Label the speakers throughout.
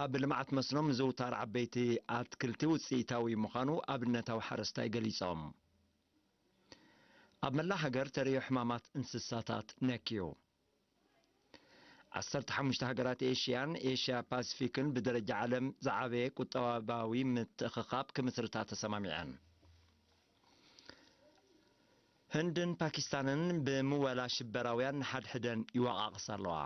Speaker 1: ኣብ ልምዓት መስኖ ምዝውታር ዓበይቲ ኣትክልቲ ውፅኢታዊ ምዃኑ ኣብነታዊ ሓረስታይ ገሊፆም። ኣብ መላእ ሃገር ተርእዮ ሕማማት እንስሳታት ነክዩ። ዓሰርተ ሓሙሽተ ሃገራት ኤሽያን ኤሽያ ፓሲፊክን ብደረጃ ዓለም ዝዓበየ ቁጠባዊ ምትእኽኻብ ክምስርታ ተሰማሚዐን። ህንድን ፓኪስታንን ብምወላ ሽበራውያን ንሓድሕደን ይወቓቕሳ ኣለዋ።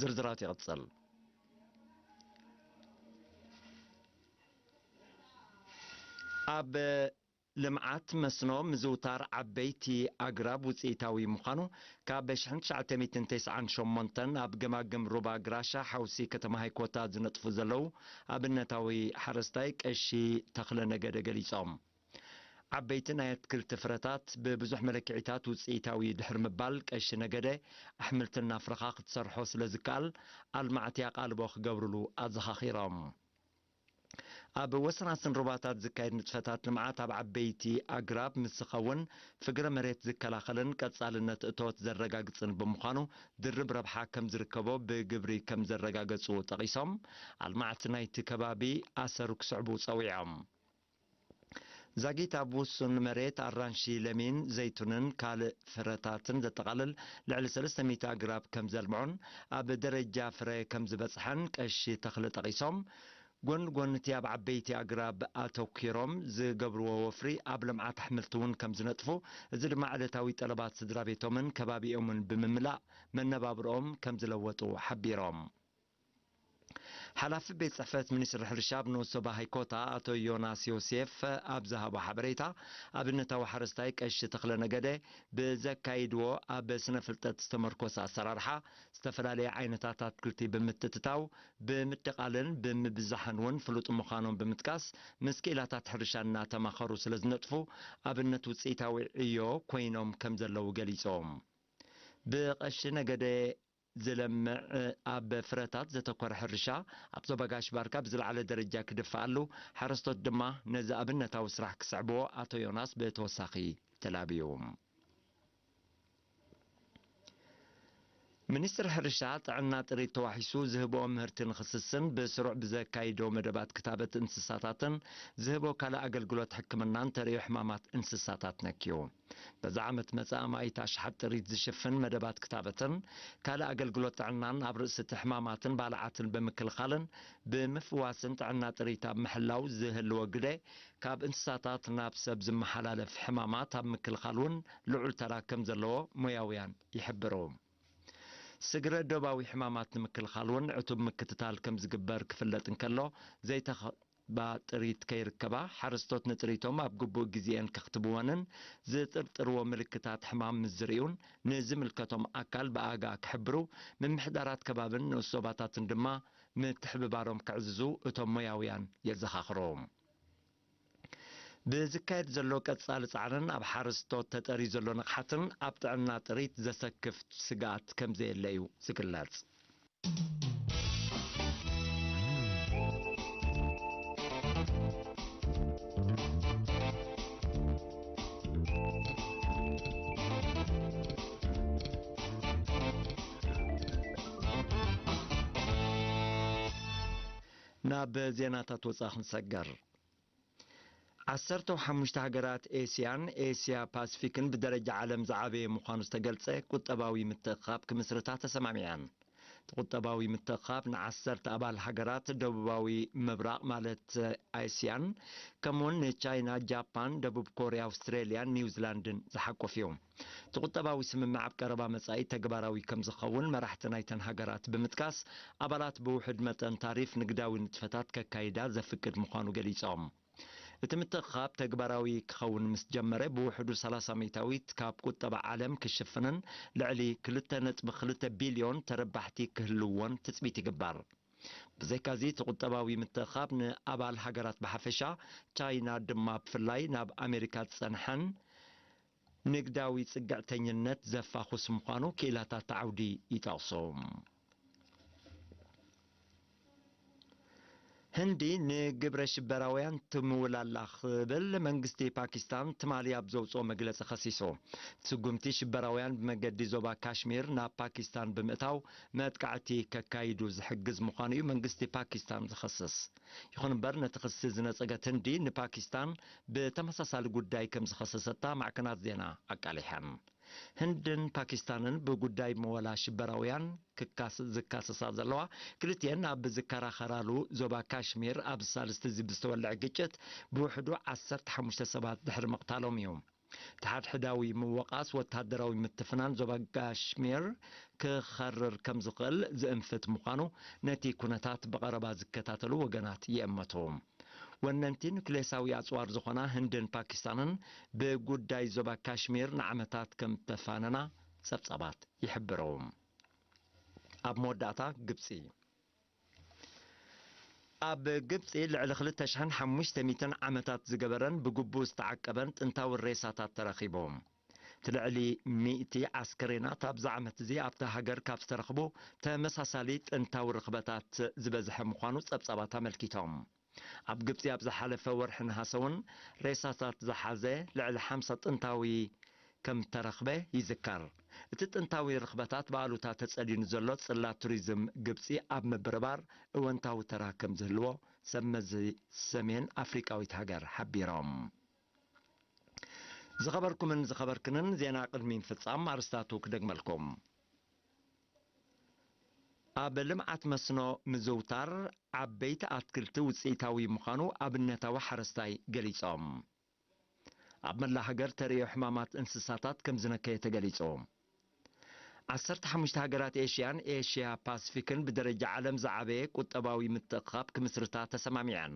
Speaker 1: ዝርዝራት ይቕጽል። ኣብ ልምዓት መስኖ ምዝውታር ዓበይቲ ኣግራብ ውፅኢታዊ ምዃኑ ካብ 1998 ኣብ ገማግም ሩባ ግራሻ ሓውሲ ከተማ ሃይኮታ ዝነጥፉ ዘለዉ ኣብነታዊ ሓረስታይ ቀሺ ተኽለ ነገደ ገሊፆም። ዓበይቲ ናይ ኣትክልቲ ፍረታት ብብዙሕ መለክዒታት ውፅኢታዊ'ዩ ድሕሪ ምባል ቀሺ ነገደ፣ ኣሕምልቲ እናፍረኻ ክትሰርሖ ስለዝከኣል ኣልማዕቲ ኣቓልቦ ክገብርሉ ኣዘኻኺሮም። ኣብ ወሰናስን ሩባታት ዝካየድ ንጥፈታት ልምዓት ኣብ ዓበይቲ ኣግራብ ምስ ዝኸውን ፍግረ መሬት ዝከላኸልን ቀፃልነት እቶት ዘረጋግፅን ብምዃኑ ድርብ ረብሓ ከምዝርከቦ ብግብሪ ከምዘረጋገፁ ጠቒሶም ኣልማዕቲ ናይቲ ከባቢ ኣሰሩ ክስዕቡ ፀዊዖም። ዛጊት ኣብ ውሱን መሬት ኣራንሺ፣ ለሚን፣ ዘይቱንን ካልእ ፍረታትን ዘጠቓልል ልዕሊ ሰለስተ ሚእቲ ኣግራብ ከም ዘልምዑን ኣብ ደረጃ ፍረ ከም ዝበጽሐን ቀሺ ተኽለ ጠቒሶም፣ ጎኒ ጎኒ'ቲ ኣብ ዓበይቲ ኣግራብ ኣተኲሮም ዝገብርዎ ወፍሪ ኣብ ልምዓት ኣሕምልቲ'ውን ከም ዝነጥፉ፣ እዚ ድማ ዕለታዊ ጠለባት ስድራቤቶምን ከባቢኦምን ብምምላእ መነባብሮኦም ከም ዝለወጡ ሓቢሮም። ሓላፊ ቤት ጽሕፈት ሚኒስትሪ ሕርሻ ኣብ ኖሶ ባሃይ ኮታ ኣቶ ዮናስ ዮሴፍ ኣብ ዝሃቦ ሓበሬታ፣ ኣብነታዊ ሓረስታይ ቀሺ ተኽለ ነገደ ብዘካይድዎ ኣብ ስነ ፍልጠት ዝተመርኮሰ ኣሰራርሓ ዝተፈላለየ ዓይነታት ኣትክልቲ ብምትትታው፣ ብምድቓልን ብምብዛሕን እውን ፍሉጥ ምዃኖም ብምጥቃስ፣ ምስ ክኢላታት ሕርሻ እናተማኸሩ ስለዝነጥፉ ኣብነት ውፅኢታዊ ዕዮ ኮይኖም ከምዘለዉ ገሊፆም። ብቀሺ ነገደ ዝለምዕ ኣብ ፍረታት ዘተኮረ ሕርሻ ኣብ ዞባ ጋሽ ባርካ ብዝለዓለ ደረጃ ክድፋኣሉ፣ ሓረስቶት ድማ ነዚ ኣብነታዊ ስራሕ ክስዕብዎ ኣቶ ዮናስ ብተወሳኺ ተላብዩ። ሚኒስትሪ ሕርሻ፣ ጥዕና ጥሪት ተዋሒሱ ዝህቦ ምህርቲ ንኽስስን ብስሩዕ ብዘካይዶ መደባት ክታበት እንስሳታትን ዝህቦ ካልእ ኣገልግሎት ሕክምናን ተርእዮ ሕማማት እንስሳታት ነክዩ። በዚ ዓመት መጸ ኣማኢት ኣሽሓት ጥሪት ዝሽፍን መደባት ክታበትን ካልእ ኣገልግሎት ጥዕናን ኣብ ርእሲ እቲ ሕማማትን ባልዓትን ብምክልኻልን ብምፍዋስን ጥዕና ጥሪት ኣብ ምሕላው ዝህልዎ ግደ ካብ እንስሳታት ናብ ሰብ ዝመሓላለፍ ሕማማት ኣብ ምክልኻል እውን ልዑል ተራ ከም ዘለዎ ሞያውያን ይሕብሩ። ስግረ ዶባዊ ሕማማት ንምክልኻል እውን ዕቱብ ምክትታል ከም ዝግበር ክፍለጥ እንከሎ፣ ዘይተኸ ብ ጥሪት ከይርከባ፣ ሓረስቶት ንጥሪቶም ኣብ ግቡእ ግዜኤን ከኽትብወንን ዝጥርጥርዎ ምልክታት ሕማም ምስ ዝርእዩን ንዝምልከቶም ኣካል ብኣጋ ክሕብሩ፣ ምምሕዳራት ከባብን ንኡስ ዞባታትን ድማ ምትሕብባሮም ከዕዝዙ እቶም ሞያውያን የዘኻኽሩ። ብዝካየድ ዘሎ ቀጻሊ ጻዕርን ኣብ ሓረስቶት ተጠርዩ ዘሎ ንቕሓትን ኣብ ጥዕና ጥሪት ዘሰክፍ ስግኣት ከምዘየለ እዩ ዝግለጽ። ናብ ዜናታት ወፃኢ ክንሰገር። ዓሰርተው ሓሙሽተ ሃገራት ኤስያን ኤስያ ፓስፊክን ብደረጃ ዓለም ዝዓበየ ምዃኑ ዝተገልጸ ቁጠባዊ ምትእኽኻብ ክምስርታ ተሰማሚዐን። እቲ ቁጠባዊ ምትእኽኻብ ንዓሰርተ ኣባል ሃገራት ደቡባዊ ምብራቕ ማለት ኤስያን ከምኡ'ውን ንቻይና፣ ጃፓን፣ ደቡብ ኮርያ፣ ኣውስትራልያን ኒውዚላንድን ዝሓቁፍ እዩ። እቲ ቁጠባዊ ስምምዕ ኣብ ቀረባ መጻኢ ተግባራዊ ከምዝኸውን መራሕቲ ናይተን ሃገራት ብምጥቃስ፣ ኣባላት ብውሑድ መጠን ታሪፍ ንግዳዊ ንጥፈታት ከካይዳ ዘፍቅድ ምዃኑ ገሊጾም። እቲ ምትእኽኻብ ተግባራዊ ክኸውን ምስ ጀመረ ብውሕዱ ሰላሳ ሚእታዊት ካብ ቁጠባ ዓለም ክሽፍንን ልዕሊ ክልተ ነጥቢ ክልተ ቢልዮን ተረባሕቲ ክህልዉዎን ትጽቢት ይግበር። ብዘይካዚ እቲ ቁጠባዊ ምትእኽኻብ ንኣባል ሃገራት ብሓፈሻ፣ ቻይና ድማ ብፍላይ ናብ ኣሜሪካ ዝጸንሐን ንግዳዊ ፅግዕተኝነት ዘፋኹስ ምዃኑ ክኢላታት እቲ ዓውዲ ይጠቕሱ። ህንዲ ንግብረ ሽበራውያን ትምውል ኣላ ክብል መንግስቲ ፓኪስታን ትማሊ ኣብ ዘውፅኦ መግለፂ ከሲሱ። እቲ ስጉምቲ ሽበራውያን ብመገዲ ዞባ ካሽሚር ናብ ፓኪስታን ብምእታው መጥቃዕቲ ከካይዱ ዝሕግዝ ምዃኑ እዩ መንግስቲ ፓኪስታን ዝኸስስ። ይኹን እምበር ነቲ ክሲ ዝነጸገት ህንዲ ንፓኪስታን ብተመሳሳሊ ጉዳይ ከም ዝኸሰሰታ ማዕከናት ዜና ኣቃሊሐን። ህንድን ፓኪስታንን ብጉዳይ መወላ ሽበራውያን ክካስ ዝካሰሳ ዘለዋ ክልቲኤን ኣብ ዝከራኸራሉ ዞባ ካሽሚር ኣብ ሳልስቲ'ዚ ብዝተወልዐ ግጭት ብውሕዱ ዓሰርተ ሓሙሽተ ሰባት ድሕሪ ምቕታሎም እዩ። ንሓድሕዳዊ ምውቓስ ወተሃደራዊ ምትፍናን ዞባ ጋሽሚር ክኸርር ከም ዝኽእል ዝእንፍት ምዃኑ ነቲ ኩነታት ብቐረባ ዝከታተሉ ወገናት ይእመቱ። ወነንቲ ኑክሌሳዊ ኣጽዋር ዝኾና ህንድን ፓኪስታንን ብጉዳይ ዞባ ካሽሚር ንዓመታት ከም እተፋነና ጸብጻባት ይሕብሩ። ኣብ መወዳእታ ግብጺ ኣብ ግብጺ ልዕሊ ክልተ ሽሕን ሓሙሽተ ሚእትን ዓመታት ዝገበረን ብግቡእ ዝተዓቀበን ጥንታዊ ሬሳታት ተረኺቦም። እቲ ልዕሊ ሚእቲ ኣስከሬናት ኣብዚ ዓመት'ዚ ኣብታ ሃገር ካብ ዝተረኽቡ ተመሳሳሊ ጥንታዊ ርኽበታት ዝበዝሐ ምዃኑ ጸብጻባት ኣመልኪቶም። ኣብ ግብጺ ኣብ ዝሓለፈ ወርሒ ነሃሰ'ውን ሬሳታት ዝሓዘ ልዕሊ ሓምሳ ጥንታዊ ከም እተረኽበ ይዝከር። እቲ ጥንታዊ ርኽበታት ብኣሉታ ተጸልዩ ንዘሎ ጽላት ቱሪዝም ግብጺ ኣብ ምብርባር እወንታዊ ተራ ከም ዝህልዎ ሰብ መዚ ሰሜን ኣፍሪቃዊት ሃገር ሓቢሮም። ዝኸበርኩምን ዝኸበርክንን ዜና ቅድሚ ምፍጻም ኣርስታቱ ክደግመልኩም። ኣብ ልምዓት መስኖ ምዝውታር ዓበይቲ ኣትክልቲ ውፅኢታዊ ምዃኑ ኣብነታዊ ሓረስታይ ገሊፆም። ኣብ መላእ ሃገር ተርእዮ ሕማማት እንስሳታት ከምዝነከየ ተገሊፁ። ዓሰርተ ሓሙሽተ ሃገራት ኤሽያን ኤሽያ ፓስፊክን ብደረጃ ዓለም ዝዓበየ ቁጠባዊ ምትእኽኻብ ክምስርታ ተሰማሚዐን።